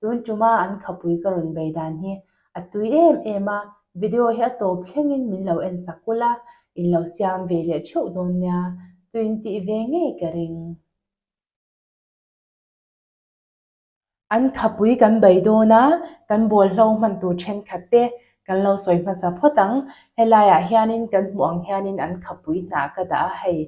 Tun tuma an khapui ka rawn bei dan hi a tui em em a, video hi a tawp thlengin min lo en sak kulh a, in lo siam ve leh theuh dawn nia, tuin tih ve ngei ka ring. An khapui kan bei dawn a, kan bawlhhlawh hman tur thenkhat te kan lo sawi hmasa phawt ang, helaiah hianin kan hmuh ang hianin an khapui hna ka dah a hei.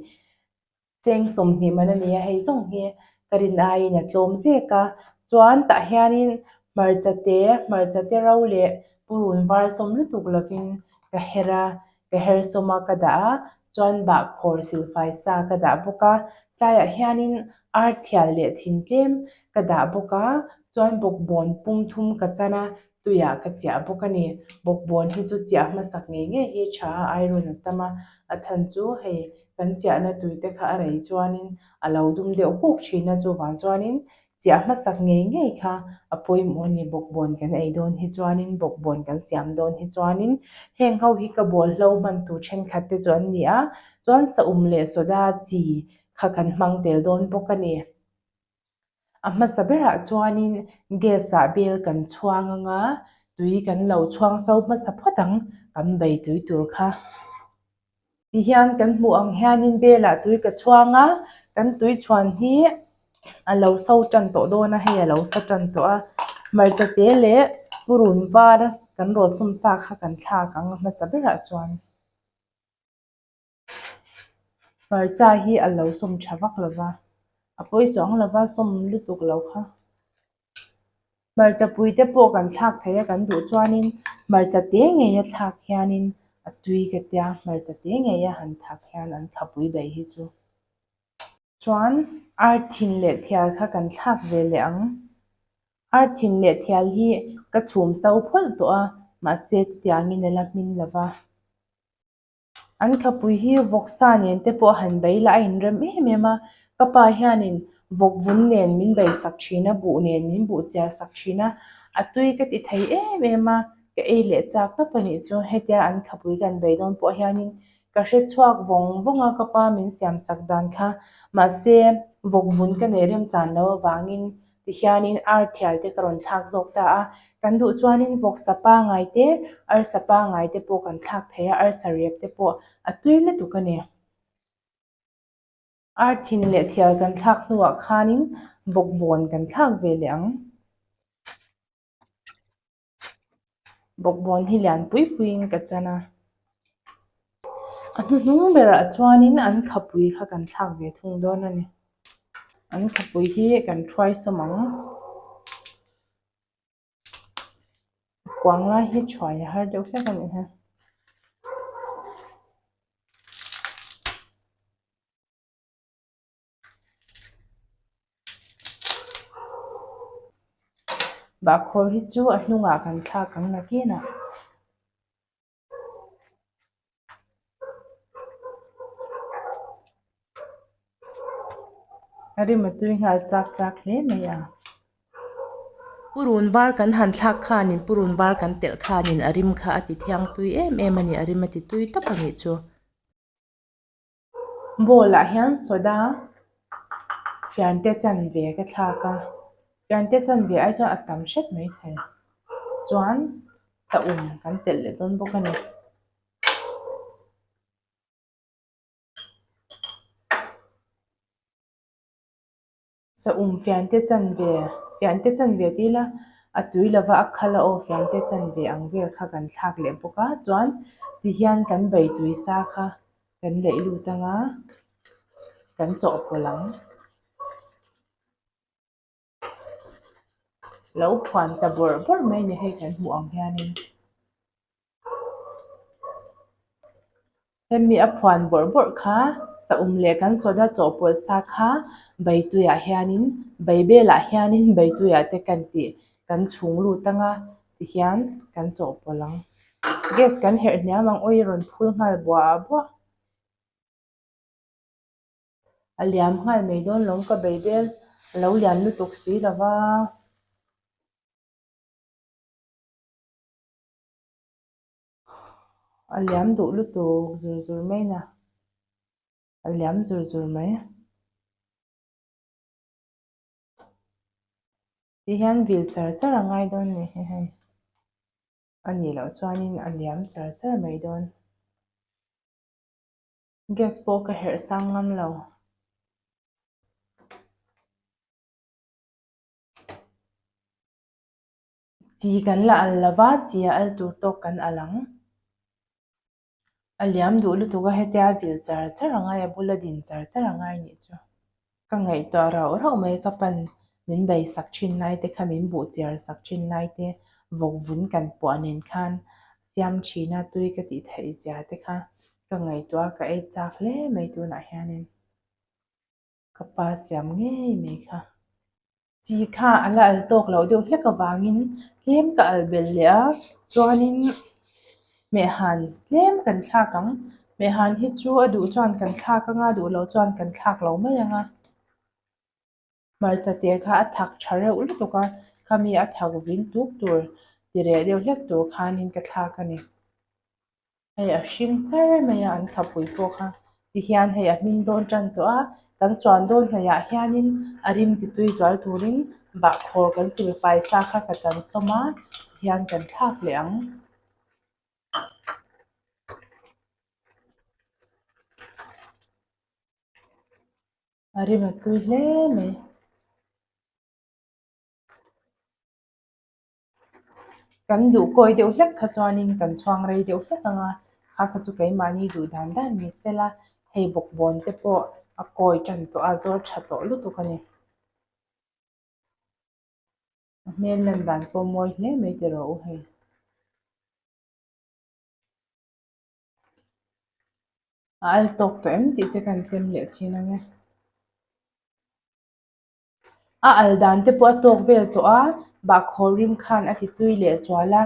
Cheng sawmhnih man a ni a, hei zawng hi ka rin aiin a tlawm zek a. Chuan tah hianin hmarcha te, hmarcha te ro leh purun var sawm lutuk lovin ka her a, ka her sawm a ka dah a, chuan bah khawr silfai sa ka dah bawk a, tlaiah hianin arthial leh thing tlem ka dah bawk a, chuan bawkbawn pum thum ka chan a, tuiah ka chiah bawk a ni. Bawkbawn hi chu chiah hmasak ngei ngei hi tha a airawn a tam a, a chhan chu hei kan chiahna tuite kha a rei chuanin a lo dum deuh huk thin a, chuvang chuanin chiah hmasak ngei ngei kha a pawimawh a ni. Bawkbawn kan ei dawn hi chuanin, bawkbawn kan siam dawn hi chuanin heng ho hi ka bawlhlo hman tur thenkhat te chu an ni a, chuan sahum leh soda chi kha kan hmang tel dawn bawk a ni. A hmasa berah chuanin gas-a bel kan chhuang ang a, tui kan lo chhuang sau hmasa phawt ang kan bei tui tur kha. Tihian kan hmuh ang hianin belah tui ka chhuang a, kan tui chhuan hi a lo so tan tawh dawn a, hei a lo sa tan tawh a. Hmarcha te leh purun var kan rawsawm sa kha kan thlak ang a hmasa berah chuan. Hmarcha hi a lo sawm tha vak lo va, a pawi chuang lo va, sawm lutuk lo kha. Hmarcha pui te pawh kan thlak thei a kan duh chuanin hmarcha te ngei a thlak hianin a tui ka tia, hmarcha te ngei a han thlak hian an tha pui daih hi chu. Chuan ar thin leh thial kha kan thlak ve leh ang. Ar thin leh thial hi ka chhum so phawlh tawh a, mahse chutiangin a la hmin lo va. An khapui hi vawk sa nen te pawh han bei la a in rem em em a ka pa hianin vawk vun nen min bei sak thin a buh nen min buh chiar sak thin a a tui ka ti thei em em a ka ei leh chak tawp a nih chu hetia an khapui kan bei dawn pawh hianin ka hre chhuak vawng vawng a ka pa min siam sak dan kha mahse vawk vun ka neih rem chan lo avangin. Tihianin arthial te ka rawn thlak zawk ta a, kan duh chuanin vawksa pangai te, arsa pangai te pawh kan thlak thei a, arsa riap te pawh a tui lutuk a ni. Arthin leh thial kan thlak hnuah khanin bawkbawn kan thlak ve leh ang. bawkbawn hi lian pui puiin ka chan a, a hnuhnung berah chuanin an khapui kha kan thlak ve thung dawn a ni, an khapui hi kan hruaisawm ang, kuang lai hi chhuah leh har deuh hlek a ni a. Bahkhawr hi chu a hnungah kan thlak ang nakin a rimatui nghal chak chak hle mai a. Purun var kan han thlak khanin purun var kan telh khanin a rim kha a tithiang tui em em a ni, a rim a ti tui tap a nih chu. Bawlah hian soda fiante chanve ka thlak a fiante chanve ai chuan a tam hret mai thei chuan sahum kan telh leh dawn bawk a ni Sa um fiangte chan ve, fiangte chan ve ti ila, a tui lova a khal a aw fiangte chan ve ang vel kha kan thlak leh bawk a, chuan tihian kan beitui sa kha kan leh lut anga kan chawhpawlh ang. Lo phuan ta bawrh bawrh mai ni hei kan hmuh ang hianin hemi a phuan bawrh bawrh kha sahum leh kan soda chawhpawlh sa kha beituiah hianin bei belah hianin beituiah te kan tih kan chhung lut anga tihian kan chawhpawlh ang gas kan herh hniam ang oil rawn phur nghal buah buah a liam nghal mai dawn lo ka bei bel a lo lian lutuk si lova. A liam duh lutuk zur zur mai na. A liam zur zur mai. Ti hian vil char char a ngai dawn ni hi hei. A nih loh chuanin a liam char char mai dawn. Gas pawh ka herh sang ngam lo. Chi kan la al lo va, chi a al tur tawk kan al ang. A liam duh lutuk a, hetia a vil char char a ngai, a bul a din char char a ngai nih chu. Ka ngaihtuah rauh rauh mai, ka pan min beisak thin lai te kha, min buh chiar sak thin lai te, vawk vun kan puah nen khan siam thin a, tui ka tih theih zia te kha ka ngaihtuah a, ka ei chak hle mai tunah hianin. Ka pa siam ngei mai kha. Chi kha a la al tawk loh deuh hlek avangin tlem ka al bel leh a, chuanin Hmehan tlem kan thlak ang. Hmehan hi chu a duh chuan kan thlak anga, a duh loh chuan kan thlak lo mai anga. Hmarcha te kha a thak tha reuh lutuk a, khami a thak vin tuk tur, ti reh deuh hlek tur khanin ka thlak a ni. hei a hring sar mai a an thapui bawk a ti hian hei a hming dawn tan tawh a kan suan dawn hnaih ah hian in a rim ti tui zual tur in bah khawr kan sil fai sa kha ka chansawm a ti hian kan thlak leh ang. Kan duh kawi deuh hlek kha chuanin kan chhuang rei deuh hlek ang a, kha kha chu keimahni duh dan dan ni sela hei bawkbawn te pawh a kawi tan tawh a, a zawr tha tawh lutuk a ni. A hmel lan dan pawh mawi hle mai te rawh u hei. A al tawk tawh em tih te kan tem leh thin ang e. A al dan te pawh a tawk vel tawh a, bahkhawr rim khan a ti tui leh sual a,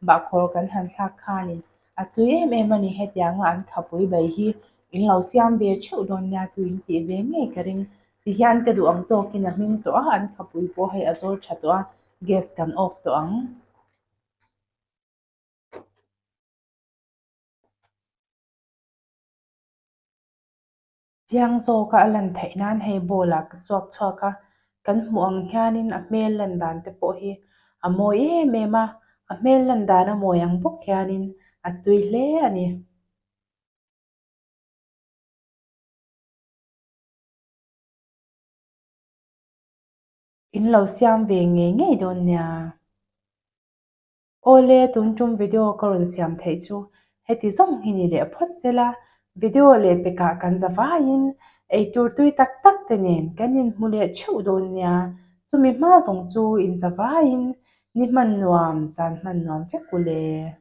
bahkhawr kan han thlak khanin a tui em em a ni hetianga an khapui bai hi in lo siam ve theuh dawn nia tui in tih ve ngei ka ring ti hian ka duh ang tawkin a hming tawh a, an khapui pawh hei a zawl tha tawh a, gas kan off tawh ang. Chiang zawka a lan theih nan hei ball-a ka suak chhuak a, kan hmuh ang hianin a hmel lan dan te pawh hi a mawi em em a, a hmel lan dan a mawi ang bawk hianin a tui hle a ni. In lo siam ve ngei ngei dawn nia. Awle tun tum video ka rawn siam theih chu heti zawng hi ni leh phawt sela video leh pekah kan zavaiin eitur tui tak tak te nen kan inhmu leh theuh dawn nia chumi hma zawng chu inzavaiin ni hman nuam zan hman nuam vek uleh.